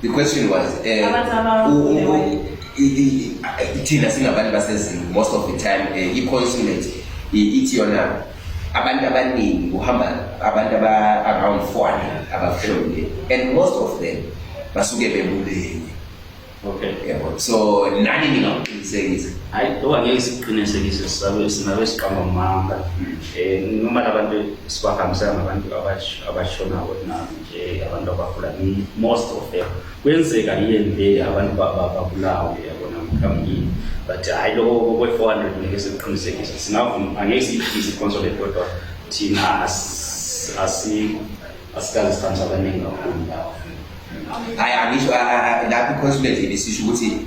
The question was eh, thina singabantu basezini most of the time eh, i-consulate ithi yona abantu abaningi kuhamba abantu aba-around 400 abahlomile and most of them basuke bebulele okay yabo so nani ningakuqinisekisa hayi loba ngeke sikuqinisekise sisabe sinabe siqamba manga um noma labantu sibahambisana nabantu abashonako nabo Eh, abantu abagula most of them kwenzeka yini le abantu babulawe yabona mkhamngini but hhayi lokho kwe-four hundred ngeke sikuqinisekise singavuma angeke siyiphise iconsolate kodwa thina asikaze sithanda abaningi kakhulu lapho hhayi angisho lapho iconsolate ibisisho ukuthi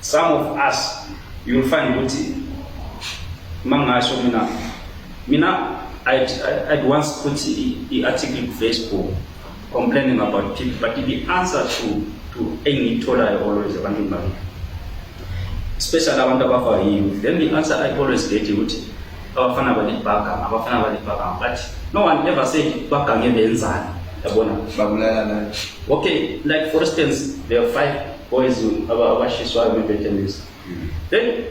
Some of us you will find ukuthi mangasho mina mina I'd, I'd once put the article on Facebook complaining about people but the answer to to engiyitholayo always ebantwini bami especially abantu abafa youth then the answer I always get ukuthi abafana balibhaga abafana balibhaga but no one ever said bagange benzani yabona babulalana okay like for instance there are five boys abashiswayo bebedemisa then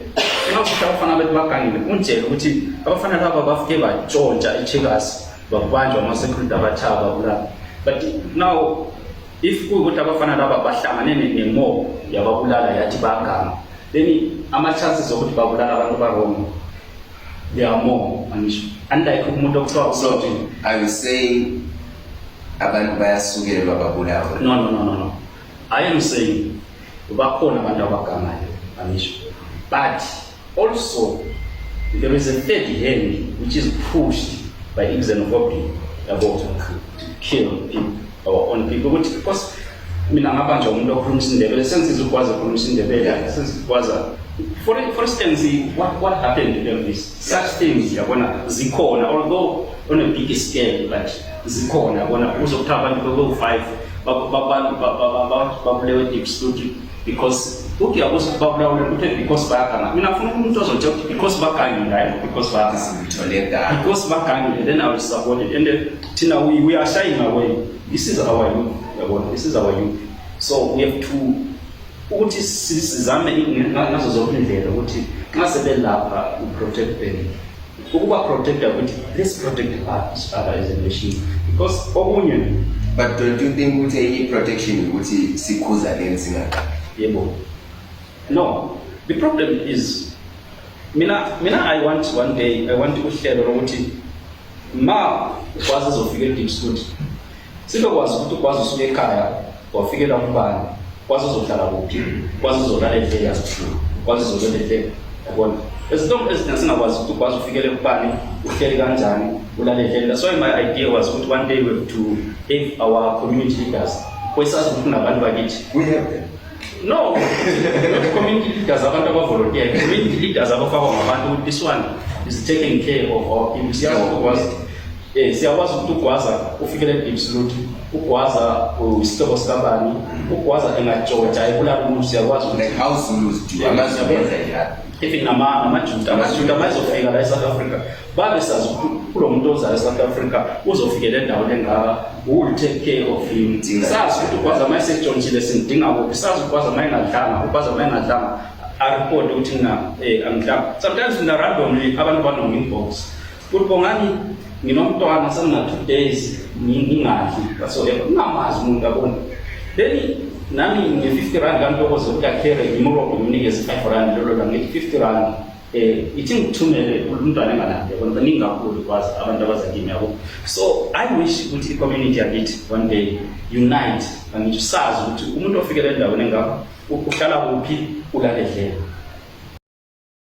ngasisho abafana bethu bagangile unjele ukuthi abafana laba bafike batshontsha i-checkers bakubanjwa ama-security abathawa babulala but now if kuyukuthi abafana laba bahlangane nemo yababulala yathi baganga then ama-chances okuthi babulala abantu barongo they are more angisho unlike umuntu okuthiwa usoti are you saying abantu bayasukelwa babulawe no no no no, no. I am saying bakhona abantu abagamayo angisho but also there is a third hand which is pushed by xenophobia yabo to kill people our own people ukuthi because mina ngaba nje umuntu okhuluma isindebele sensiza ukwazi ukhuluma isindebele sensikwazi for for instance what what happened to them is such things yabona zikhona although on a big scale but zikhona yabona uzwa kuthiwa abantu bebewu-five babulewe deep studio because uthi yakuthi babulawe kuthe because baganga mina ngifuna umuntu ozothe ukuthi because bagangile hayi because baganga because bagangile then i will support it and thina we, we are shying away this is our youth yabona this is our youth so we have to ukuthi sizame ngazo zonke indlela ukuthi nxa sebelapha uprotect them ukuba protector ukuthi let's protect each other as a nation because okunye but don't you think ukuthi enye protection ukuthi sikhuza leni singaqali yebo no the problem is mina mina i want one day i want uhlelo lokuthi ma kwazi zofika edipsud Sibekwazi ukuthi ukwazi usuka ekhaya wafikela umbani kwazi uzohlala kuphi kwazi uzolala endlini yasithulu kwazi uzolala endlini yabona ezinto eziningi singakwazi ukuthi ukwazi ufikele kubani uhleli kanjani ulale endlini that's why my idea was ukuthi one day we have to have our community leaders kwesazi ukuthi kunabantu bakithi we have them no community leaders abantu abavolontiya community leaders abafakwa ngabantu ukuthi this one is taking care of our people siyakwazi Eh siyakwazi ukuthi ugwaza ufikele deep salute. Ugwaza uyisihlobo uh, sikabani. Ugwaza engajoja ebulala umuntu siyakwazi ukuthi like how Zulus do. Angazi benza njalo. Even nama amaJuda amaJuda mayizofika la eSouth Africa babe sazi kulo muntu ozala eSouth Africa uzofikela endaweni engaka will take care of him. Sazi ukuthi ugwaza mayisejontshile simdinga kuphi. Sazi ugwaza mayingadlanga, ugwaza mayingadlanga. I report ukuthi mina eh angidlanga. Sometimes mina randomly abantu banombox. Futhi bongani nginomntwana sengina two days ngingadli whatsoever ngingamazi umuntu abona then nami nge-fifty rand kantokoze uyakhele ngimurobhe ngimnikeze five rand lolo la ngithi fifty rand um ithi ngithumele umntwana engalandi yabona baningi kakhulu kwazi abantu abazakimi yabo so i wish ukuthi i-community yakithi one day unite angithi sazi ukuthi umuntu ofikele endaweni engakho uhlala kuphi ulaledlela